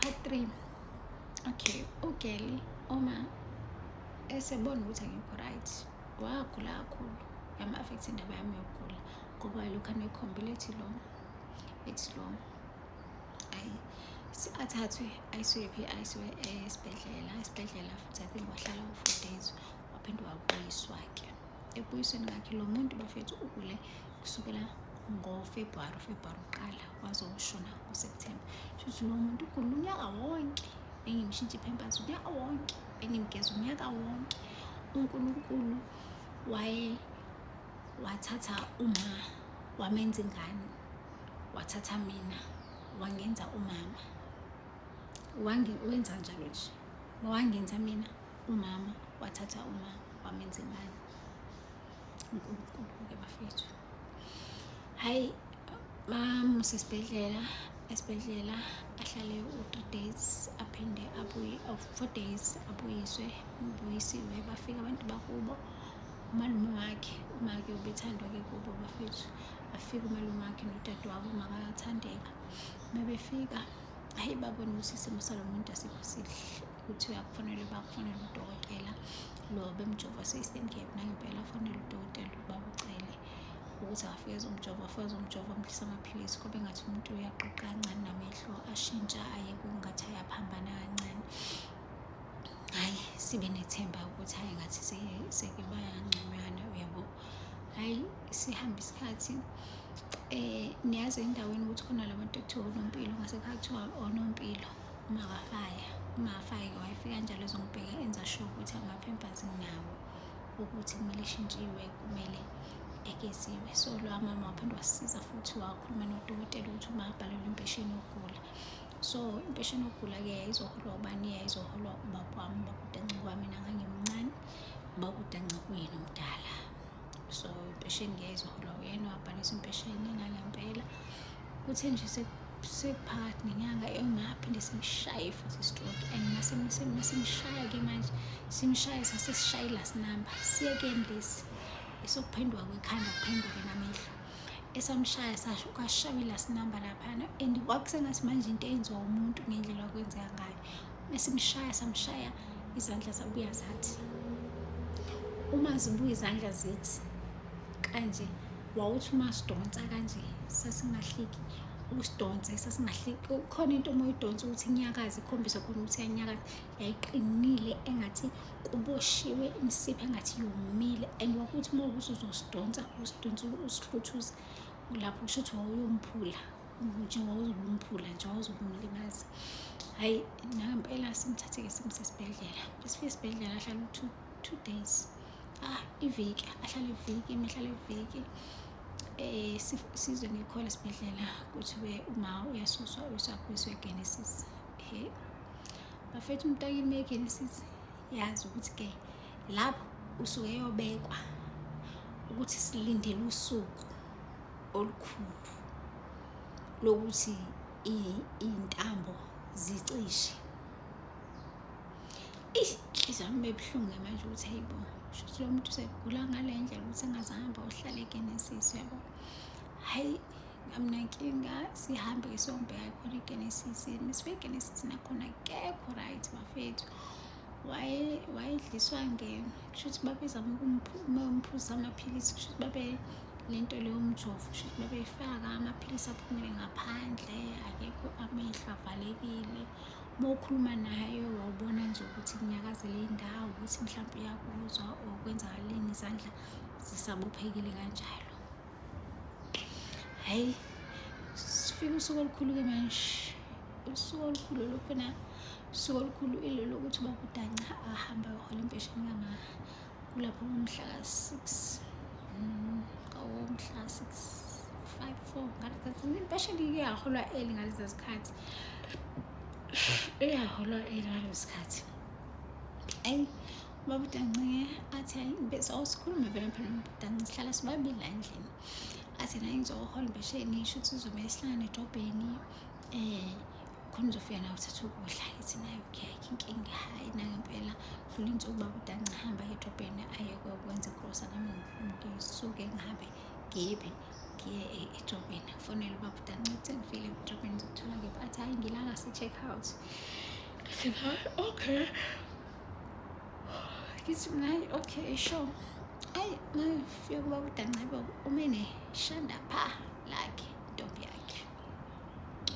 part three okay ugeli uma esebona ukuthi angikho right wagula kakhulu yama-affektha indaba yami yokugula ngoba lokhu anekhombile ethi lo ethi lo ayi athathwe ayisiwe phi ayisiwe esibhedlela esibhedlela futhi i think wahlala u-four days waphinde wabuyiswa-ke ebuyisweni kakhe lo muntu bafethu ugule kusukela ngofebruwari ufebruwari uqala waze ushona ngoseptemba shuthi lo muntu ugula unyaka wonke bengimshintsha iphempasi unyaka wonke bengimgeza unyaka wonke unkulunkulu waye wathatha uma wamenza ingane wathatha mina wangenza umama wenza njalo nje wangenza mina umama wathatha uma wamenza imali unkulunkulu-ke bafethu hhayi bamuse esibhedlela esibhedlela ahlale u-three days aphinde abuye four days abuyiswe ubuyisiwe bafike abantu bakubo umalume wakhe umake ubethandwa-ke kubo bafethu afike umalume wakhe nodade wabo makathandeka uma befika hhayi babone ukuthi isimo salo muntu asikho sihle ukuthi uyakufanele bakufanele udokotela lo bemjova system gap nangempela afanele udokotela ukuba ucele ukuthi afike ezomjova afike ezomjova amdlisa amaphilisi kube ngathi umuntu uyaqoqa kancane namehlo ashintsha aye kungathi ayaphambana kancane hhayi sibe nethemba ukuthi hhayi ngathi seke bayangconywana uyabo hhayi sihamba isikhathi um niyazi endaweni ukuthi khona la bantu ekuthiwa onompilo ngase kuthiwa onompilo ungakafaya ungafaki wifi kanjalo ezongibheka enza sure ukuthi ama-pampers nginawo ukuthi kumele ishintshiwe kumele egeziwe so lowa mama waphinde wasisiza futhi wakhuluma nodokotela ukuthi uma abhalelwe impesheni yokugula so impesheni yokugula-ke yayizoholwa ubani yayizoholwa ubaba wami ubakudanca kwami nangangimncane ubakudanca kuyena omdala so impesheni ngiyayizihola uyena wabhalisa impesheni nangempela kuthe nje sekuphakathi nenyanga engaphinde simshaye futhi istroke and masimshaya-ke manje simshaye sasesishaye last number siyekeni lesi esokuphenduka kwekhanda kuphenduke namehlo esamshaya sasho kwashawila sinamba laphana and kwakusengathi manje into eyenziwa umuntu ngendlela okwenzeka ngayo esimshaya samshaya izandla zabuya zathi uma zibuya izandla zithi kanje wawuthi uma sidonsa kanje sasingahliki usidonse sasingahliki khona into uma uyidonsa ukuthi inyakazi ikhombisa khona ukuthi yanyakazi yayiqinile engathi kuboshiwe imisipha engathi yomile and wakuthi uma ukuthi uzosidonsa usidonsa usihluthuza lapho kusho ukuthi wawuyomphula nje wawuzobumphula nje wawuzobumlimaza hhayi nangempela simthathe-ke simse esibhedlela besifike esibhedlela ahlala u-two two days ah iviki ahlala iviki mehlala iviki eh sizwe ngikhola esibhedlela kuthiwe uma uyasuswa uyiswa kwiswe genesis he bafethu umuntu akimekeni sisi yazi ukuthi ke lapho usuke yobekwa ukuthi silindele usuku olukhulu lokuthi iy'ntambo zicishe eish inhliziyo yami bebuhlungu manje ukuthi hayi bo shuthi lo muntu usegula ngale ndlela ukuthi engazange amba uhlale ke nesisu yabo hhayi Amnankinga sihambe isombheka khona iGenesis misibe iGenesis nakhona kekho right bafethu waye wayedliswa ngeno kushuthi babezama ukumphuza amaphilisi kushuthi babe lento leyo mjovo kushuthi babeyifaka amaphilisi aphumele ngaphandle akekho amehlo avalekile uma ukhuluma naye wawubona nje ukuthi kunyakazele indawo ukuthi mhlawumbe uyakuzwa or kwenzakaleni izandla zisabophekile kanjalo hayi sifike usuku olukhulu-ke manje usuku olukhulu lokhona usuku olukhulu ilolo ukuthi ubakudanca ahambe ayohola impesheni kama kulapho ngomhla ka-six mm, ngomhla ka-six five four impesheni iyaholwa eli ngaleza zikhathi iyaholwa eli ngalezo zikhathi ayi babudancike athi hayi ngibese awusikhulume vele phela babudancike sihlala sibabili la endlini athi naye ngizohola impesheni isho ukuthi uzomele sihlangane edobheni um eh, khona uzofika nawe uthatha ukudla ithi naye okay ayikho inkinga hhayi nangempela dlula insuku babudanci hamba edobheni aye kokwenza igrosa nami ngisuke ngihambe ngibe ngiye e-, edobheni fonele ubabudanci ukuthi ngifile edobheni ngizokuthola kephi athi hhayi ngilala se-check out okay ngithi ngayi okay sure ayi ngifike kuba udancebo ume neshanda pha lakhe intombi yakhe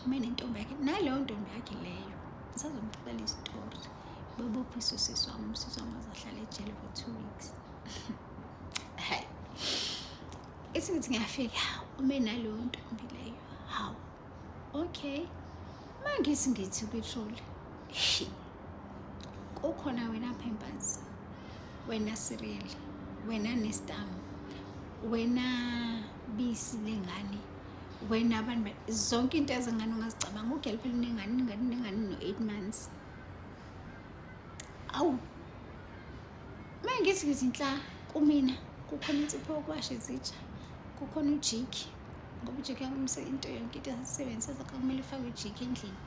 ume nentombi yakhe naleyo ntombi yakhe leyo ngisazomxelela isitori bebopha isusisi wami usisi wami azahlala ejele for two weeks hayi ithi ngithi ngiyafika ume naleyo ntombi leyo hawu okay mangithi ngithi upetroli shi kukhona wena pampers wena cereal wena nestam wena bisi lengane wena abantu zonke into ezingane ungazicabanga ugel phela unengane ingane unengane no-eight months awu uma ngithi ngizinhla kumina kukhona insipho yokuwasha izitsha kukhona ujiki ngoba ujiki yakumisa into yonke into esisebenzisa zakho kumele ufake ujiki endlini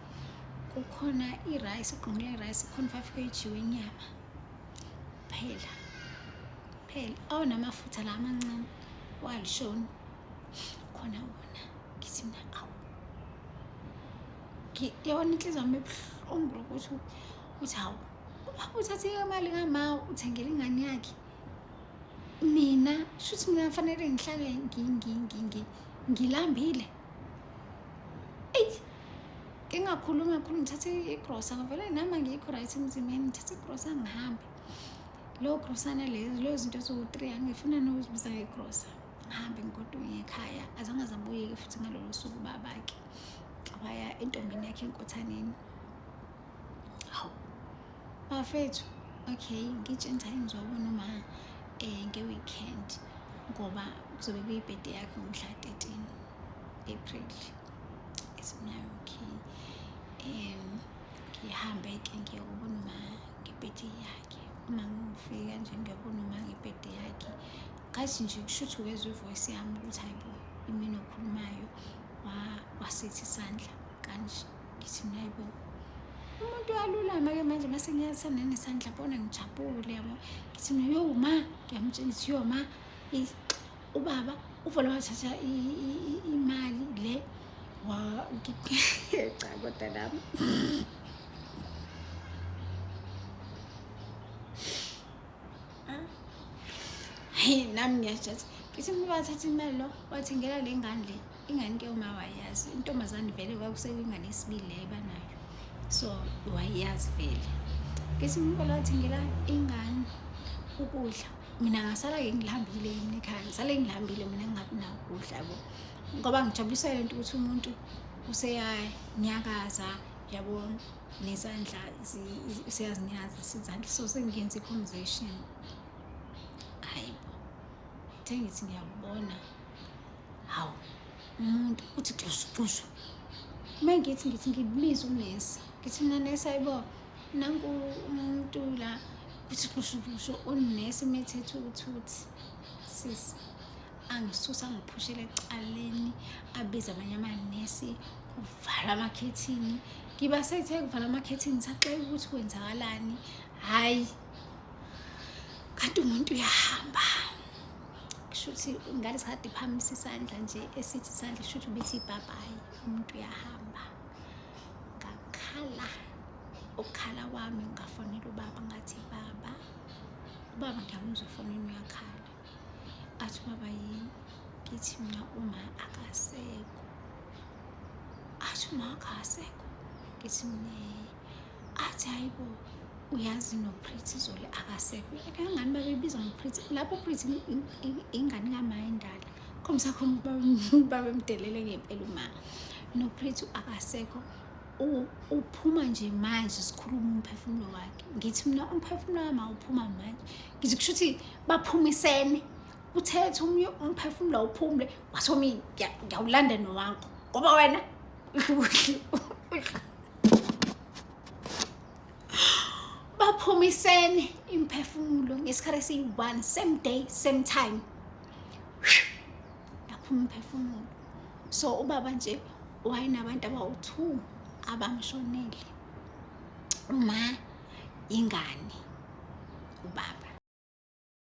kukhona irayisi ugqungule irayisi kukhona five kg wenyama phela phela awunamafutha la amancane walishoni khona wona ngithi mina awu yabona inhliziyo yami ebuhlungu lokuthi ukuthi hawu uthathe imali kamawu uthengela ingane yakhe mina shuthi mina fanele ngihlale ngilambile eyi ngingakhulumi kakhulu ngithathe igrosa ngavele nama ngikho right emzimbeni ngithathe igrosa ngihambe leyo grosana leyo leyo zinto eziwu-three angifuna nokuzibiza ngegrosa ngihambe ngigodwa ngekhaya azange zambuyeke futhi ngalolo suku babake waya entombini yakhe enkothaneni bafethu okay ngitshintsha ingizwa ubona uma um eh, nge-weekend ngoba kuzobe kuyibhede yakhe ngomhla 13 april esimnayo okay um ngihambe-ke ngiyokubona uma ngebhede yakhe uma ngifika nje ngiyobona uma ngebhede yakhe ngathi nje kusho ukuthi ukezwa ivoyisi yami ukuthi hayibo imini okhulumayo wasithi isandla kanje ngithi mina hayibo umuntu uyalulama ke manje mase ngiyasana nesandla bona ngijabule yabo ngithi mina yo ma ngiyamtshela ngithi yo ma ubaba uvele wathatha imali le cha kodwa nami heyi nami ngiyajathi ngithi umuntu wathatha imali lo wathengela le ngane le ingane ke uma wayazi intombazane vele kwakusekwingane isibili leyo banayo so wayazi vele ngesinye umkolo wathengela ingane ukudla mina ngasala-ke ngilihambile yini ekhaya ngisale ngilihambile mina ngingabi nakudla bo ngoba ngijabulisa le nto ukuthi umuntu useyanyakaza yabo nezandla useyazinyaza sizandla so sengenza i-conversation hayi bo thengithi ngiyakubona hawu umuntu uthi xushu xushu uma ngithi ngithi ngibiza unesi ngithi mina nesi ayibo nanku umuntu la kuthi xushu xushu unesi umethethe ukuthuthi sisi angisusa ngiphushele ecaleni abize abanye amanesi kuvala amakhethini ngiba sethe kuvala amakhethini saxela ukuthi kwenzakalani hhayi kanti umuntu uyahamba kushuthi ingane sikade iphakamisa isandla nje esithi isandla kushuthi ubithi ibhabhayi umuntu uyahamba ngakhala ukukhala kwami ngafonela ubaba ngathi baba ubaba ngiyamuzwa efonini uyakhala athi ubaba yini ngithi mina uma akasekho athi uma akasekho ngithi mina athi hayibo uyazi noprithi izolo akasekho kangani babebiza ngoprithi lapho uprithi ingane kamaye ndala khombisa khona babemdelele ngempela uma noprithi akasekho uphuma nje manje sikhuluma umphefumulo wakhe ngithi mina umphefumulo wami awuphuma manje ngithi kusho ukuthi baphumisene uthethe omunye umphefumulo awuphumule washo mina ngiyawulanda nowakho ngoba wena baphumisene imphefumulo ngesikhathi esiyi-one same day same time yaphuma imphefumulo so ubaba nje wayenabantu abawu-two abamshonele uma ingane ubaba